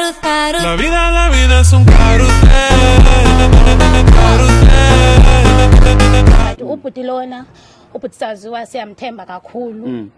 La vida, la vida es un carrusel. But ubhuti lona ubhuti saziwa siyamthemba kakhulu Mm.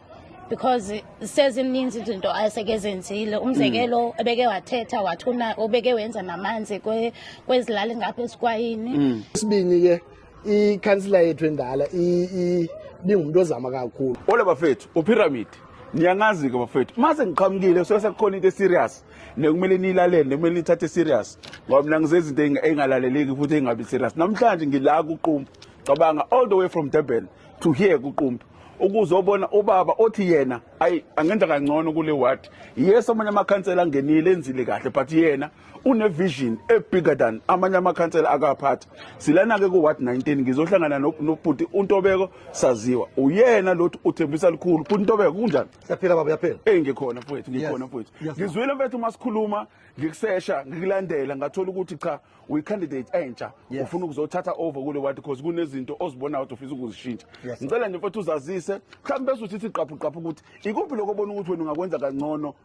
because sezininzi izinto aseke zenzile Mm. umzekelo ebeke wathetha wathuna obeke wenza namanzi kwe- kwezilali ngapha esikwayini Mm. Isibini ke ikhansila yethu endala ibingumuntu ozama kakhulu ola bafethu upyramid niyangazi-ke bafethu uma sengiqhamukile kusuke sekukhona into eserious nekumele niyilalele nekumele nithathe serious ngoba mina ngizezinto ey'ngalaleleki futhi ey'ngabi serious namhlanje ngila kuqumbu cabanga all the way from durban to here kuqumbu ukuzobona ubaba othi yena ayi angenza kangcono kule ward yes amanye amakhansela angenile enzile kahle but yena unevision ebigger than amanye amakhansela akaphatha silana-ke ku-ward 19 ngizohlangana nobhuti untobeko saziwa uyena lothi uthembisa likhulu bhuti untobeko kunjani siyaphila baba uyaphila eyi ngikhona mfowethu ngikhona mfowethu ngizwile mfethu uma sikhuluma ngikusesha ngikulandela ngathola ukuthi cha uyi-candidate entsha ufuna ukuzothatha over kule ward because kunezinto ozibonayo ukuthi ufisa ukuzishintsha ngicela nje mfethu uzazise mhlawumbe bese usithi gqaphuqaphu ukuthi ikuphi lokho obona ukuthi wena ungakwenza kangcono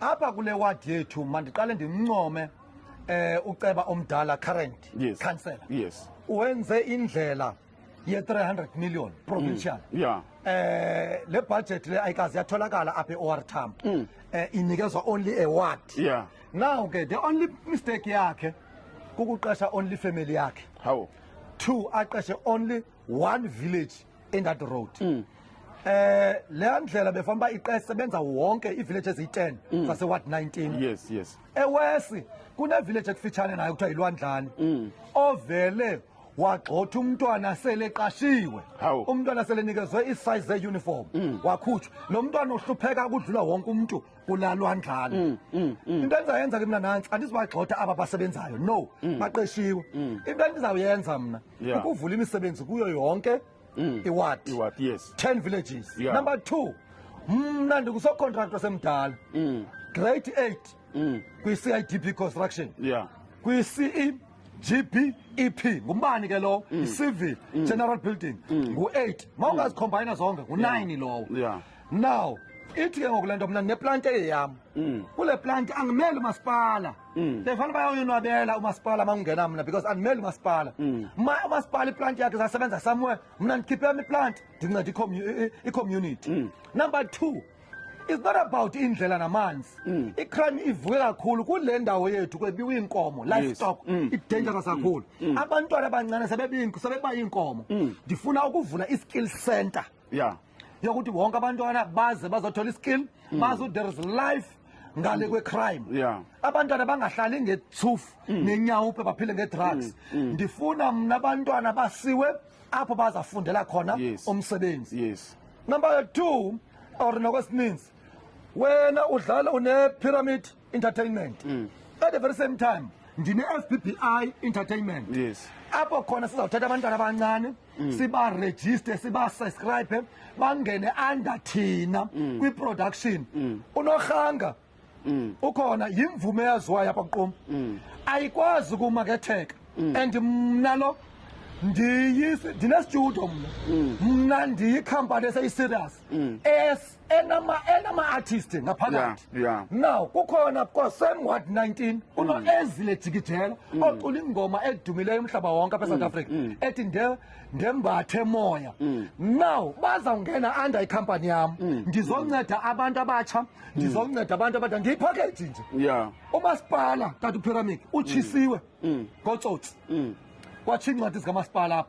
apha kule ward yethu mandiqale ndimncome eh uceba omdala current Yes. councillor Yes. wenze indlela ye 300 million provincial Mm. Yeah. eh le budget le ayikazi yatholakala apha eOR Tambo Mm. eh inikezwa only a ward Yeah. now ke the only mistake yakhe kukuqesha only family yakhe How? two aqeshe only one village in that road mm. eh leya ndlela befana ba iqese benza wonke ivillage eziyi10 mm. zase ward 19 yes yes ewesi kune village ekufitshane nayo kuthiwa ilwandlani mm. ovele wagxotha umntwana seleqashiwe umntwana selenikezwe isize uniform mm. wakhutshwa lo mntwana uhlupheka kudlula wonke umuntu kulalwa njalo mm, mm, mm. into endizayenza ke mna nantsi andizibagxotha aba basebenzayo no baqeshiwe into endizawuyenza mna ukuvula imisebenzi kuyo yonke iward yes 10 villages yeah. number 2 mna ndingusocontract wasemdala grade 8 kwi-CIDP construction yeah kwi-CE GBEP ngumbani ke lowo mm. civil mm. general building mm. ngu-8 ma ungazicombine zonke ngu-9 lowo now ithi ke ngoku le nto mna ndineplante eyeyam mm. kule plante angimele umasipala mm. ndifana bayoyonwabela umasipala makungena mna because andimele umasipala mm. ma umasipala iplante yakhe zasebenza somewhere mna ndikhiphe yam iplante ndinceda icommunity number two it's not about indlela namanzi mm. icrime ivuke kakhulu kule ndawo yethu kwebiwa iinkomo livestock yes. mm. idangerous mm. kakhulu mm. abantwana abancane sebebayinkomo mm. ndifuna ukuvula i-skill center ya yokuthi wonke abantwana baze bazothola iskill mm. bazi there is life ngale kwecrime yeah. abantwana bangahlali ngethufu mm. nenyawo uphe baphile ngedrugs mm. mm. ndifuna mna abantwana basiwe apho bazafundela khona yes. umsebenzi yes. number two or nokwesininzi wena udlala une-pyramid entertainment mm. at the very same time ndine FBBI entertainment yes apho khona sizawuthatha abantwana abancane mm. siba register siba subscribe bangene under thina mm. kwi production mm. unorhanga mm. ukhona yimvume yaziwayo apha kuqoma mm. ayikwazi ukumaketheka mm. and mna lo ndine studio mna mm. mna ndiyikhampani eseyiserious mm. es enama enama artist ngaphakathi Yeah, yeah. now kukhona kwa same ward 19 uno ezile jikijela ocula ingoma edumileyo umhlaba wonke apha South Africa ethi nde ndembathe moya now bazawungena under icompany yam ndizonceda abantu abatsha ndizonceda abantu abadala ndiyipackage nje yeah umasipala tata upyramid utshisiwe ngotsotsi kwatshiya iincwadi zikamasipala apha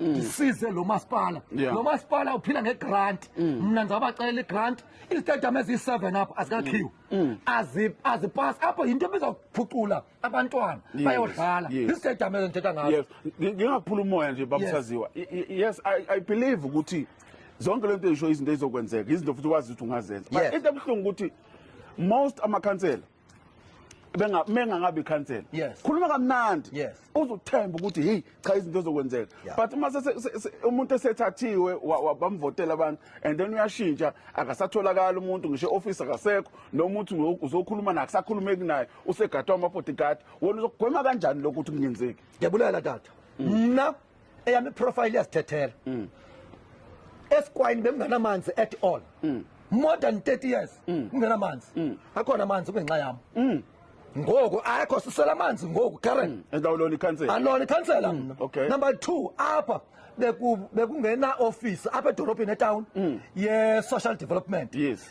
Mm. ndisize lo masipala lo masipala uphila ngegrant mm. mna ndizawubacelela igrant izitadium eziyi-seven apho azikakhiwe mm. azipasi apho yinto ebizawuphucula abantwana bayodlala izitadium ezo ndithetha ngazo ngingaphula umoya nje babusaziwa yes i believe ukuthi zonke le nto eyisho izinto ezizokwenzeka izinto futhi wazi ukuthi ungazenza but into ebuhlungu ukuthi most amakhansela benga mengangabe ikhansela yes. khuluma kamnandi yes. uzothemba ukuthi hey cha izinto zokwenzeka yeah. but uma umuntu esethathiwe bamvotela abantu and then uyashintsha akasatholakala umuntu ngisho office akasekho nomuntu uzokhuluma naye akusakhulumeki naye usegadwa amabodyguard wona uzokugwema kanjani lokho ukuthi kungenzeki ngiyabulala tata mna mm. eyami profile iyasithethela mm. esikwayini benginamanzi at all mm. more than 30 years mm. nginamanzi mm. akhona amanzi kungenxa yami mm. ngoku akho sisela amanzi ngoku karen mm. endawulona ikhansela alona ikhansela mm. okay. number 2 apha bekungena office apha edolobheni etown mm. ye social development yes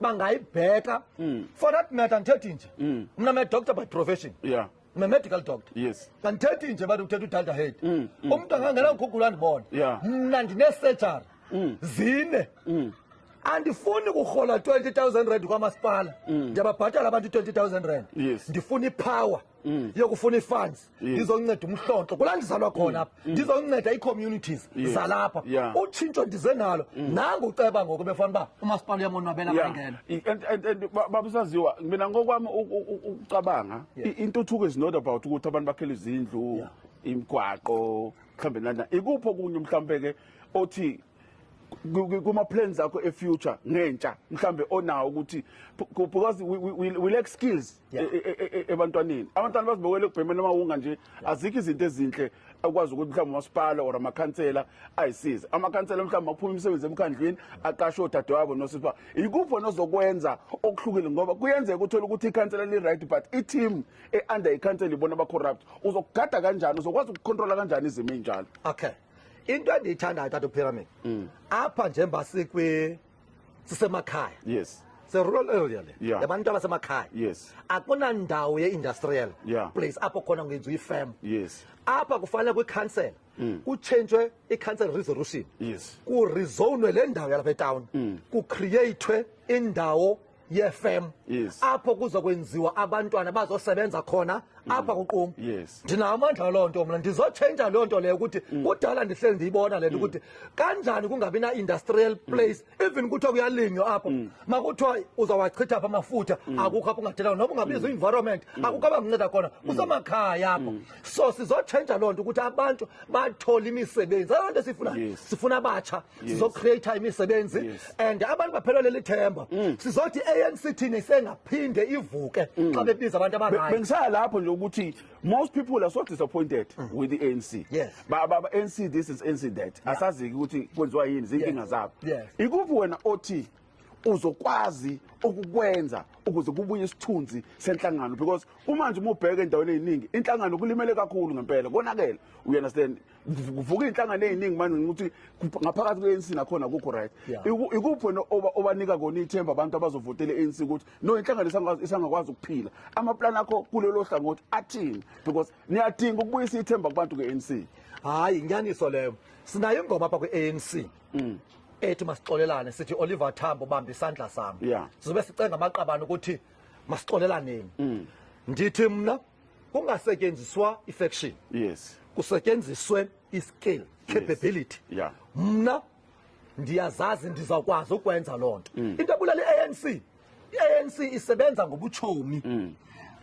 bangayibheka mm. for that matter ngithethe nje mm. mina me doctor by profession yeah mina medical doctor yes ngithethe nje bathi uthethe udalda head mm, mm. umuntu angangena ngigugula ndibona yeah mina ndine surgery mm. zine mm. andifuni kuhola 20000 rand kwamasipala mm. ndiyababhatala abantu 20000 rand yes ndifuna ipower mm. yokufuna ifunds mm. ngizonceda umhlonto kulandizalwa khona apha mm. ngizonceda icommunities zalapha utshintsho ndize nalo nangu uceba ngoku befana uba umasipala uyamonwabela bangena and baba usaziwa mina ngokwami ukucabanga intuthuko is not about ukuthi abantu bakhele izindlu imgwaqo mhlawumbe nana ikuphi okunye mhlawumbe-ke othi kuma plans akho e future ngentsha mhlambe onawo ukuthi because we, we, we lack skills e, e, e, ebantwaneni abantwana bazibokele ukubhemela uma unga nje azikho izinto ezinhle akwazi ukuthi mhlawumbe umasipala or amakhansela ayisize amakhansela mhlawumbe aphuma imisebenzi emkhandlwini aqashe odade wabo nosipha yikuphi onozokwenza okuhlukile ngoba kuyenzeka uthole ukuthi ikhansela li-right but i-team e-under ikhansela ibona aba-corrupt uzokugada kanjani uzokwazi ukukhontrola kanjani izimo ey'njalo okay into endiyithandayo tata upyramid mm. apha njengoba sikwi sisemakhaya yes se-rural area le yeah. yabantu abasemakhaya yes akunandawo ye-industrial yeah. place apho khona ngenziwa ifem yes apha kufanele kwikhansela mm. kutshentshwe i-council resolution yes kurizonwe le ndawo yalapha etawuni mm. kucreatwe indawo yefem Yes. apho kuzokwenziwa abantwana bazosebenza khona apha kuquma Mm. Yes. Mm. ndinawo amandla loo nto mna ndizotshentsha loo nto leyo ukuthi kudala ndihleli ndiyibona le nto ukuthi kanjani kungabi na-industrial Mm. place even kuthiwa kuyalinywa apho makuthiwa uzawachitha apha amafutha Mm. akukho apho ungathela noba ungabiza i-environment akukho abanganceda khona Mm. kusemakhaya apho so sizotshentsha loo nto ukuthi abantu bathole imisebenzi aloo nto siyifunayo Yes. sifuna abatsha sizocreate imisebenzi and abantu baphelwa leli themba mm. sizothi ANC thina isengaphinde ivuke mm. xa bebiza abantu abangaka bengisaya lapho nje ukuthi most people are so disappointed mm. with the ANC ba ba ANC this is ANC that asaziki ukuthi kwenziwa yini zinkinga zabo ikuphi wena othi uzokwazi ukukwenza ukuze kubuye isithunzi senhlangano because kumanje uma ubheka endaweni eziningi inhlangano kulimele kakhulu ngempela konakele you understand kuvuka iy'nhlangano ey'ningi manje ukuthi ngaphakathi kwe-anc nakhona kukho right ikuphi wena obanika kona ithemba abantu abazovotela i-anc ukuthi no inhlangano isangakwazi ukuphila amaplani akho kulelo hlangothi athini because niyadinga ukubuyisa ithemba kubantu kwe-anc hhayi inyaniso leyo sinayo ingoma apha kwi-anc mm. ethi masixolelane sithi oliver tambo ubambe isandla sami sizobe sicenga amaqabane ukuthi masixolelaneni mm. ndithi mna kungasetyenziswa i-faction yes kusetyenziswe i-skill capability yeah mna ndiyazazi ndizawukwazi ukwenza loo nto mm. into ebulala i-anc i-anc isebenza ngobutshomi mm.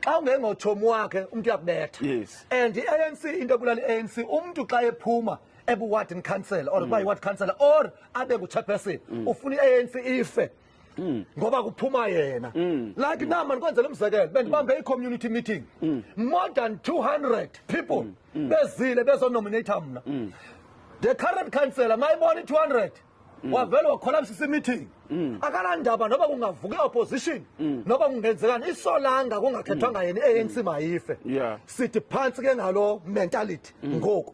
xa ungengotshomi wakhe umntu uyakubetha yes and i-anc into ebulala i-anc umntu xa ephuma ebuwardin council or mm. kuba yiward council or abe nguchairperson ufuna i-anc ife Mm. ngoba kuphuma yena mm. like mm. namani kwenzela umzekelo bendibambe mm. i-community meeting mm. more than 200 people mm. Mm. bezile bezonominata mna mm. the current councellor mayibona i-200 mm. wavele wakholabisisa i-meeting mm. akalandaba noba kungavuka i-opposition mm. noba kungenzekani isolanga kungakhethwanga mm. yena i-anc mm. mayife yeah. sithi phantsi ke ngalo mentality mm. ngoku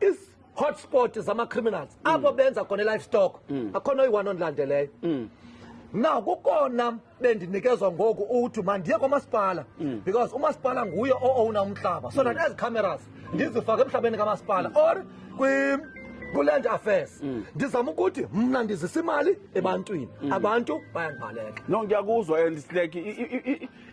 is hotspot zama criminals mm. abo benza khona livestock mm. akhona oyi-one ondilandeleyo mm. now kukona bendinikezwa ngoku ukuthi mandiye kwamasipala mm. because umasipala nguye o-owna umhlaba so that mm. ezi cameras ndizifake emhlabeni kamasipala mm. or kwi-land affairs ndizama ukuthi mna ndizisa imali ebantwini abantu bayandibaleka no ngiyakuzwa and like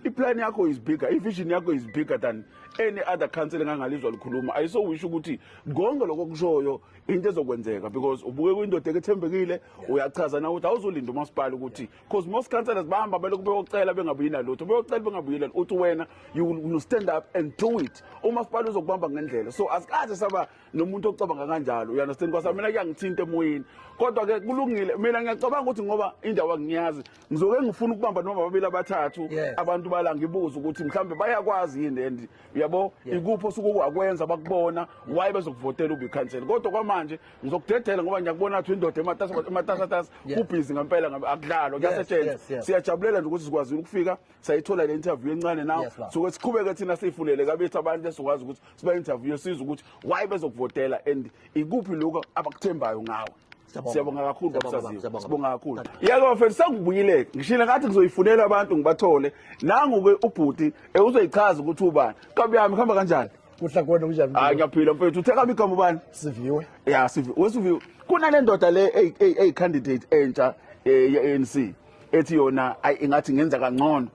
iplani yakho is bigger ivision yakho is bigger than any other council engangalizwa likhuluma ayisowisho ukuthi konke lokho kushoyo into ezokwenzeka because ubuke kwindoda ekethembekile uyachaza na ukuthi awuzolinda umasipala ukuthi because most councillors bahamba belokhu beyocela bengabuyi nalutho beyocela bengabuyi lutho uthi wena you will stand up and do it umasipala uzokubamba ngendlela so asikaze saba nomuntu ocabanga kanjalo you understand kwasa mina kuyangithinta emoyeni kodwa ke kulungile mina ngiyacabanga ukuthi ngoba indawo angiyazi ngizoke ngifuna ukubamba noma babili abathathu abantu bala ngibuza ukuthi mhlawumbe bayakwazi yini and uyabo ikupho suku wakwenza bakubona why bezokuvotela ube cancel kodwa kwamanje ngizokudedela ngoba ngiyakubona ukuthi indoda ematasa ematasa ubhizi ngempela akudlalwa kuyasetshenzwa siyajabulela nje ukuthi sikwazile ukufika sayithola le interview encane nawo Yes, Lord. suke siqhubeke thina siyifundele kabethu abantu esizokwazi ukuthi siba interview sizwe ukuthi why bezokuvotela and ikuphi lokho abakuthembayo ngawe Siyabonga. siyabonga kakhulu Siyabonga, babusaziwe siyabonga. sibonga kakhulu Thank yeke bafethu sengibuyile ngishile ngathi ngizoyifunela abantu ngibathole nangu-ke ubhuti eh, uzoyichaza ukuthi ubani kabi yami kuhamba kanjani kuhla kona kunjani hayi ngiyaphila mfethu uthe kabi igama ubani siviwe ya sivi wesiviwe kunale ndoda le eyi- eyi- eyi-candidate entsha eh, ye-anc ethi yona ayi ingathi ngenza kangcono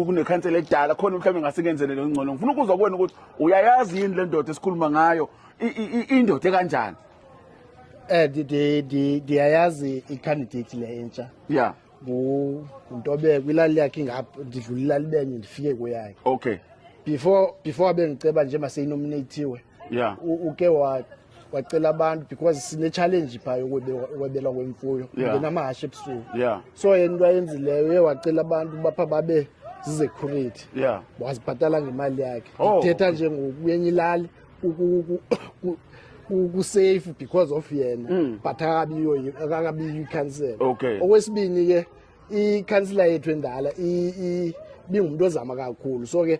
kunekhansela edala khona mhlawumbe ngasikenzele leyo ngcono ngifuna ukuzwa kuwena ukuthi uyayazi yini le ndoda esikhuluma ngayo indoda ekanjani eh ndiyayazi i-candidate le entsha ya nguntobeko ilali yakhe ingapha ndidlula ilali benye ndifike kweyakhe okay before before abe ngiceba nje maseyinominathiwe yeah. uke wa wacela abantu because sine-challenge phaa yokwebelwa kwemfuyo yeah. ngenamahashe ebusuku yeah. so yena into ayenzileyo uye wacela abantu bapha babe zizecurity yeah. wazibhatala ngemali yakhe oh. ithetha oh. njengokuyenye ilali kusafe because of yena mm. but akabiyo akabiyo icancel okay. okwesibini ke ikhansila yethu endala ibingumuntu ozama kakhulu so ke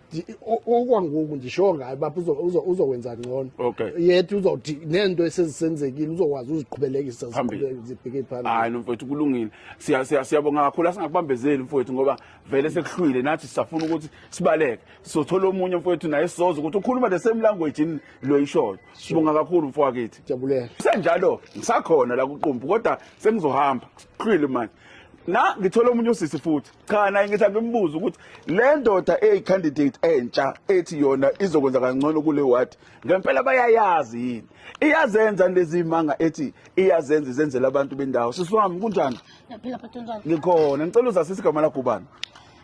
okwangoku ndisho ngayo bapha uzokwenza ngcono yet uzothi nento esezisenzekile uzokwazi uziqhubelekisa zibheke phambili hayi nomfowethu kulungile siyabonga kakhulu asingakubambezeli mfowethu ngoba vele sekuhlwile nathi sisafuna ukuthi sibaleke sizothola omunye mfowethu naye sizoza ukuthi ukhuluma the same language yini lo yishoyo sibonga kakhulu mfowakithi jabulela senjalo ngisakhona la kuqumbu kodwa sengizohamba kuhlwile manje na ngithola omunye usisi futhi cha naye ngithi angimbuze ukuthi le ndoda eyi-candidate entsha ethi yona izokwenza kangcono kule ward ngempela bayayazi yini iyazenza lezimanga ethi iyazenza izenzela abantu bendawo sisi wami kunjani Ngiyaphila bhuti unjani? ngikhona ngicela uzasisi igama lagubani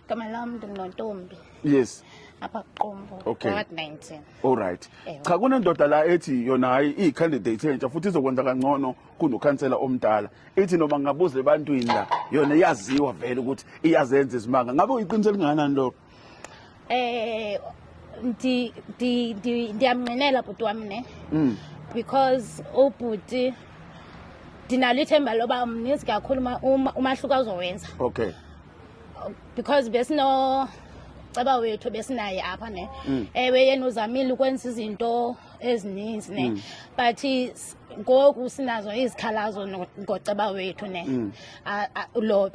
Igama lami nginontombi yes apha kuqumbu Okay. ward 19. allright Ewe. cha kunendoda la ethi yona hhayi iyi-candidate entsha futhi izokwenza kangcono kunokhansela omdala ithi noma ngingabuza ebantwini la yona iyaziwa vele ukuthi iyazenza izimanga ngabe uyiqiniso elingakanani lokho eh ndi ndi ndiyamnqinela bhuti wami ne mm. because ubhuti ndinalo ithemba loba mninzi kakhulu umahluko azowenza okay because besino ceba wethu besinaye apha ne mm. ewe yena uzamile ukwenza izinto ezininzi ne mm. but ngoku sinazo izikhalazo ngoceba wethu ne mm. lo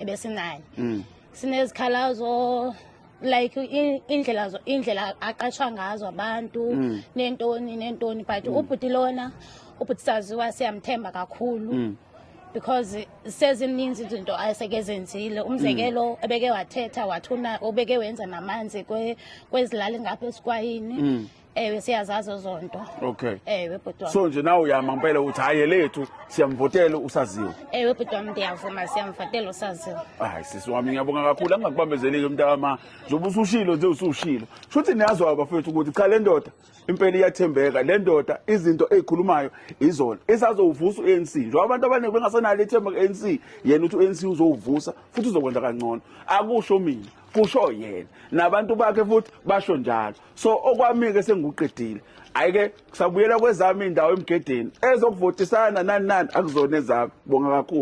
ebesinaye mm. sinezikhalazo like indlela indlela aqashwa ngazo abantu mm. nentoni nentoni but ubhuti lona ubhuti saziwa siyamthemba kakhulu because sezininzi izinto aseke zenzile umzekelo mm. ebeke wathetha wathuna obeke wenza namanzi kwezilali ngapha esikwayini mm. ewe siyazazi ozonto okay ewe bhuti wami so nje nawe uyama ngempela uthi hayi elethu siyamvotela usaziwe ewe bhuti wami ndiyavuma siyamvotela usaziwe hayi sisi wami ngiyabonga kakhulu angakubambezeleki mntakama njengoba usushilo nje usushilo shuthi niyazwa abafethu ukuthi cha le ndoda impela iyathembeka le ndoda izinto ezikhulumayo izona isazowuvusa u-anc njengoba abantu abaningi bengasenalo ithemba ku-anc yena uthi u-anc uzowuvusa futhi uzokwenza kangcono akusho mina kusho yena nabantu bakhe futhi basho njalo so okwami-ke senguqedile hhayi-ke kusabuyela kwezami indawo emgedeni ezokuvotisana nani nani akuzona ezami bonga kakhulu